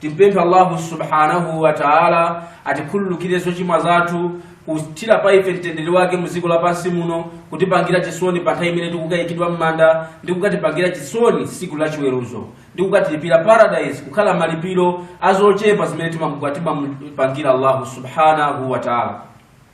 Timpemphe Allahu subhanahu wa ta'ala atikhululukire zochimwa zathu, kuthira pa ife mtendere wake mu dziko lapansi muno, kutipangira chisoni pa nthawi imene tikukayikidwa m'manda, ndi kukatipangira chisoni tsiku la chiweruzo, ndi kukatilipira paradise kukhala malipiro a zochepa zimene timamupangira Allahu subhanahu wa ta'ala.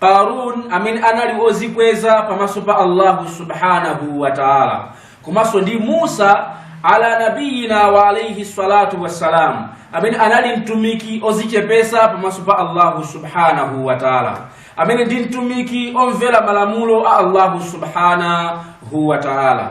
qarun amene anali ozikweza pamaso pa allahu subhanahu wa taala komanso ndi musa ala nabiyina wa alaihi salatu wassalam amene anali mtumiki ozichepesa pamaso pa allahu subhanahu wa taala amene ndi mtumiki omvera malamulo a allahu subhanahu wa taala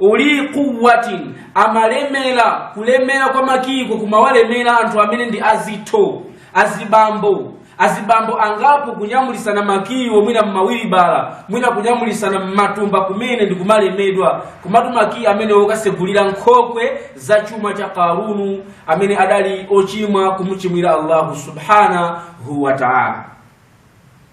uli quwwatin amalemera kulemera kwa makiyi ko kumawalemera anthu amene ndi azitho azibambo azibambo angapo kunyamulisana makiyiwo mwina mmawilibala mwina kunyamulisana mmatumba kumene ndi kumalemedwa kumatu makiyi amene okasegulira nkhokwe za chuma cha karunu amene adali ochimwa kumuchimwira allahu subhanahu wa taala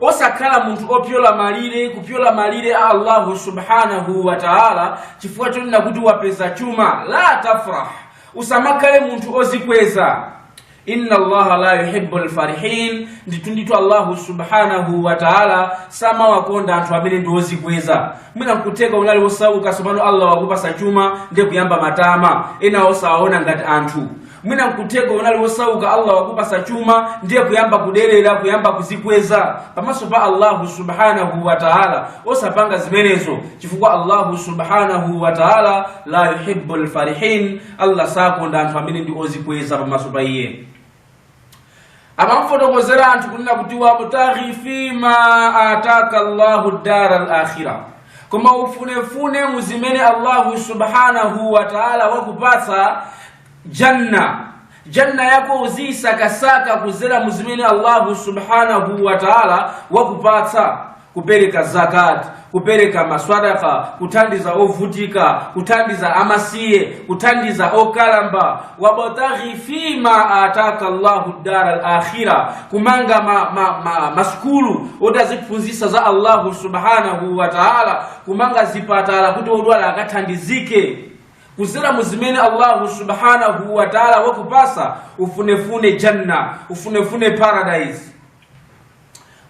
osakhala munthu opyola malire kupyola malire a allahu subhanahu wa taala chifukwa chonena kuti wapeza chuma la tafrah usamakhale munthu ozikweza inna allaha la yuhibbu lfarihin ndithundithu allahu subhanahu wa taala samawakonda anthu amene ndi ozikweza mwina nkutheka unali osauka sopano allah wakupasa chuma ndiye kuyamba matama ena osawaona ngati anthu mwina nkutheka unali wosauka allah wakupasa chuma ndiye kuyamba kuderera kuyamba kuzikweza pamaso pa allahu subhanahu wa taala osapanga zimenezo chifukwa allahu subhanahu wa taala la yuhibu lfarihin allah sakonda anthu amene ndi ozikweza pamaso pa iye amamfotokozera anthu kunena kuti wabtaghi fima ataka llahu dara lakhira koma ufunefune muzimene allahu subhanahu wa taala wakupatsa janna janna yako uziyisakasaka kuzera mu zimene allahu subhanahu wa taala wakupatsa kupereka zakati kupereka maswadaka kuthandiza ovutika kuthandiza amasiye kuthandiza okalamba wabtaghi fima ataka llahu dara lakhira kumanga masukulu oti aziphunzitsa za allahu subhanahu wa taala kumanga zipatala kuti odwala akathandizike kuzera mu zimene allahu subhanahu wa taala wakupasa ufunefune janna ufunefune paradise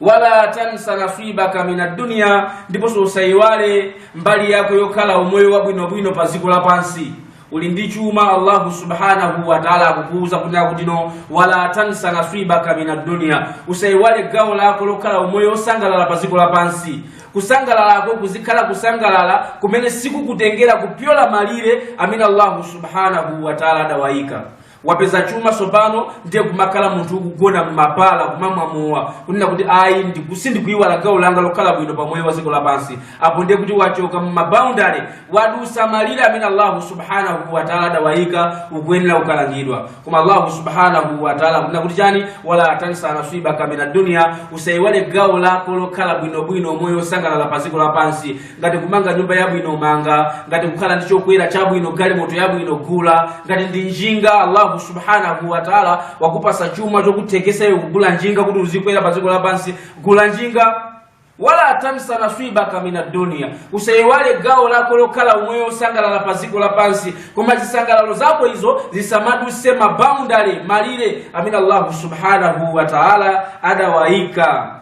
wala tansa nasibaka min adduniya ndiponso usayiwale mbali yako yokhala umoyo wabwinobwino pa dziko lapansi uli ndi chuma allahu subhanahu wa taala akukuuza kuti no wala tansa nasibaka min adduniya usayiwale gawo lako lokhala umoyo wosangalala pa dziko lapansi kusangalalako kuzikhala kusangalala kumene sikukutengera kupyola malire amene allahu subhanahu wataala adawayika wapeza chuma tsopano ndiye kumakhala munthu ukugona mmabala kumamwa mowa kunena kuti ayi ndiku- sindikuyiwala gawo langa lokhala bwino pa moyo wa dziko lapansi apo ndiye kuti wachoka mumaboundary wadusa malire amene allahu subhanahu wataala adawayika ukuyenera kukalangidwa koma allahu subhanahu wataala akunena kuti chani wala tansa nasibaka mina dunia usaiwale gawo lako lokhala bwinobwino moyo osangalala pa dziko lapansi ngati kumanga nyumba yabwino manga ngati kukhala ndi chokwera chabwino galimoto yabwino gula ngati ndi njinga allahu subhanahu wataala wakupasa chuma chokuthekesa iwe kugula njinga kuti uzikwera pa dziko lapansi gula njinga wala tansa nasibaka min adduniya usayiwale gawo lako lokhala umoyo osangalala pa dziko lapansi koma zisangalalo zako izo zisamaduse maboundary malire amene allahu subhanahu wa taala adawayika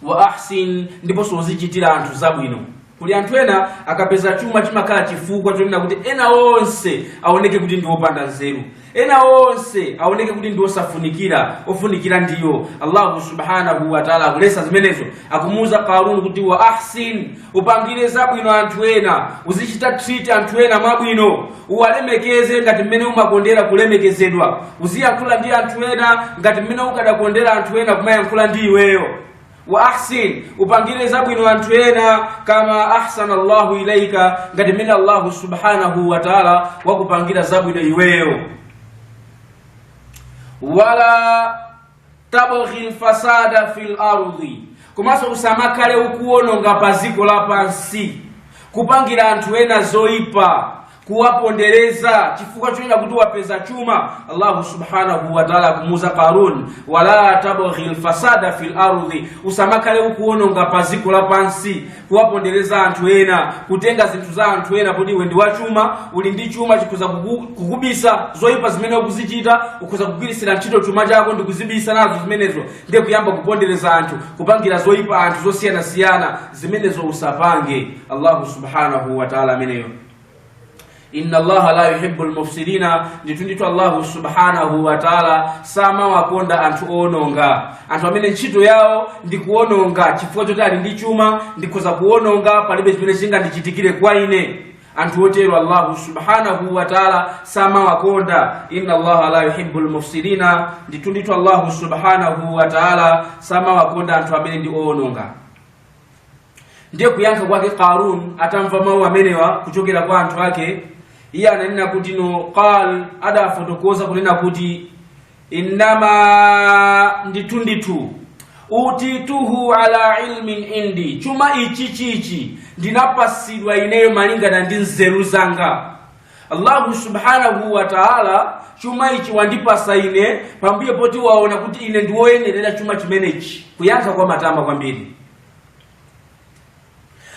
wa ahsin ndiponso uzichitira anthu zabwino kuli anthu ena akapeza chuma chimakhala chifukwa chonena kuti ena onse aoneke kuti ndi opanda nzeru ena onse aoneke kuti ndi osafunikira ofunikira ndiwo allahu subhanahu wataala akulesa zimenezo akumuuza qarun kuti wa ahsin upangire zabwino anthu ena uziwachita treat anthu ena mwabwino uwalemekeze ngati mmene umakondera kulemekezedwa uziyankhula ndi anthu ena ngati mmene ukadakondera anthu ena kumayankhula ndi iweyo wa ahsin upangire zabwino anthu ena kama ahsana allahu ilaika ngati mmene allahu subhanahu wa taala wakupangira zabwino iweyo wala tabghi lfasada fi lardi komanso usamakhale ukuwononga pa dziko lapansi kupangira anthu ena zoyipa kuwapondereza chifukwa chonena kuti wapeza chuma allahu subhanahu wataala kumuuza qarun wala tabghi lfasada fi lardi usamakhale ukuwononga pa dziko lapansi kuwapondereza anthu ena kutenga zinthu za anthu ena kuti iwe ndi wachuma uli ndi chuma chikhoza kuku- kukubisa zoyipa zimene ukuzichita ukhoza kugwirisira ntchito chuma chako ndi kuzibisa nazo zimenezo ndiye kuyamba kupondereza anthu kupangira zoyipa anthu zosiyanasiyana zimenezo usapange allahu subhanahu wataala ameneyo inna allaha la yuhibbu lmufsidina ndithu ndithu allahu subhanahu wataala samawakonda anthu owononga anthu amene ntchito yawo ndi kuwononga chifukwa choti ali ndi chuma ndikhoza kuwononga palibe chimene chingandichitikire kwa ine anthu otero allahu subhanahu wataala samawakonda inna allaha la yuhibbu lmufsidina ndithu ndithu allahu subhanahu wataala samawakonda anthu amene ndi owononga ndiye kuyankha kwake qarun atamva mawu amenewa kuchokera kwa anthu ake iye ananena kuti no qal adafotokoza kunena kuti innama ndithu ndithu utituhu ala ilmin indi chuma ichi chichi ndinapasidwa ineyo malingana ndi nzeru zanga allahu subhanahu wa taala chuma ichi wandipasa ine pambuyo poti waona kuti ine ndiwoyenerera chuma chimenechi kuyankha kwa matama kwambiri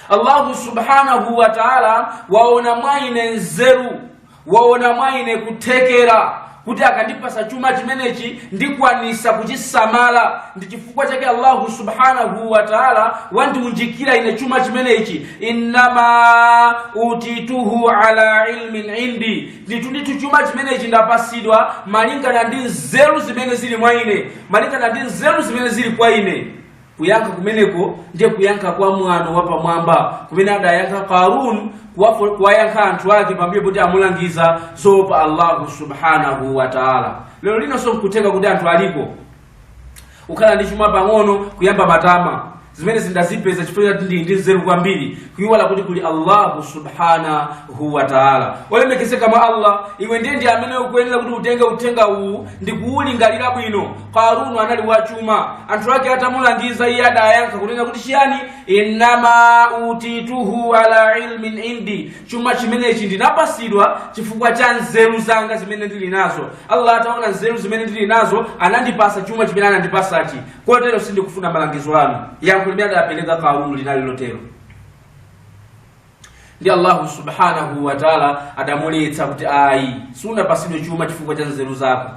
allahu subhanahu wa taala waona mwa ine nzeru waona mwa ine kuthekera kuti akandipasa chuma chimenechi ndikwanisa kuchisamala ndi chifukwa chake allahu subhanahu wataala wandiunjikira ine chuma chimenechi innama utituhu ala ilmin indi ndithu ndithu chuma chimenechi ndapasidwa malingana ndi nzeru zimene zili mwa ine malingana ndi nzeru zimene zili kwa ine kuyankha kumeneko ndiye kuyankha kwa mwano wapamwamba kumene adayankha qarun kuwafo- kuwayankha anthu ake pambuyo poti amulangiza zoopa allahu subhanahu wa taala lero lino so nkutheka kuti anthu alipo ukhala ndi chuma pang'ono kuyamba matama zimene ndazipeza chifukwa choti ndili ndi nzeru kwambiri kuyiwala kuti kuli allahu subhanahu wa taala olemekezeka mwa allah iwe ndi ine ndi amene ukuyenera kuti utenge uthenga uwu ndi kuwulingalira bwino qarunu anali wachuma anthu ake atamulangiza iye adayankha kunena kuti chiyani innama utituhu ala ilmin indi chuma chimenechi ndinapasidwa chifukwa cha nzeru zanga zimene ndili nazo allah ataona nzeru zimene ndili nazo anandipasa chuma chimene anandipasachi kotero sindikufuna malangizo anu yankho limene adapereka qarunu linali lotero ndi allahu subhanahu wataala adamuletsa kuti ayi sunapasidwe chuma chifukwa cha nzeru zako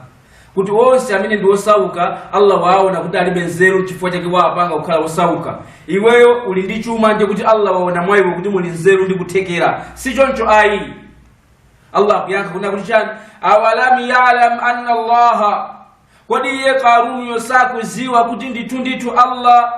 kuti onse amene ndi osauka allah waona kuti alibe nzeru chifukwa chake waapanga kukhala osauka iweyo uli ndi chuma ndiye kuti allah waona mwa iwe kuti muli nzeru ndi kuthekera si choncho ayi allah akuyankha kunena kuti chani awalam yalam anna allaha kodi iye qarunuyo sakuziwa kuti ndithu ndithu allah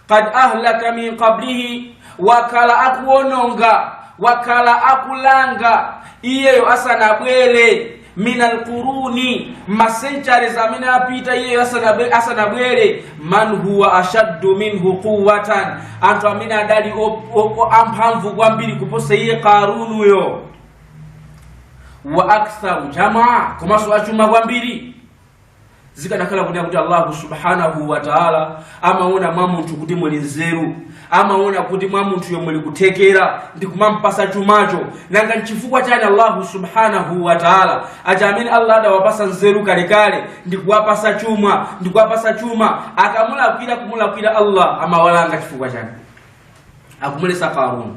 qad ahlaka min qablihi wakhala akuononga wakhala akulanga iyeyo asanabwere min alquruni masenchares amene apita iyeyo asanabe- asanabwere man huwa ashaddu minhu quwatan anthu amene adali o- o- o- amphamvu kwambiri kuposa iye qarunuyo wa aktharu jamaa komanso achuma kwambiri zikanakhala kunena kuti allahu subhanahu wataala amaona mwa munthu kuti muli nzeru amaona kuti mwa munthuyo muli kuthekera ndi kumampasa chumacho nanga nchifukwa chani allahu subhanahu wataala aja amene allah adawapasa nzeru kalekale ndi kuwapasa chuma ndi kuwapasa chuma akamulakwira kumulakwira allah amawalanga chifukwa chani akumulesa karuni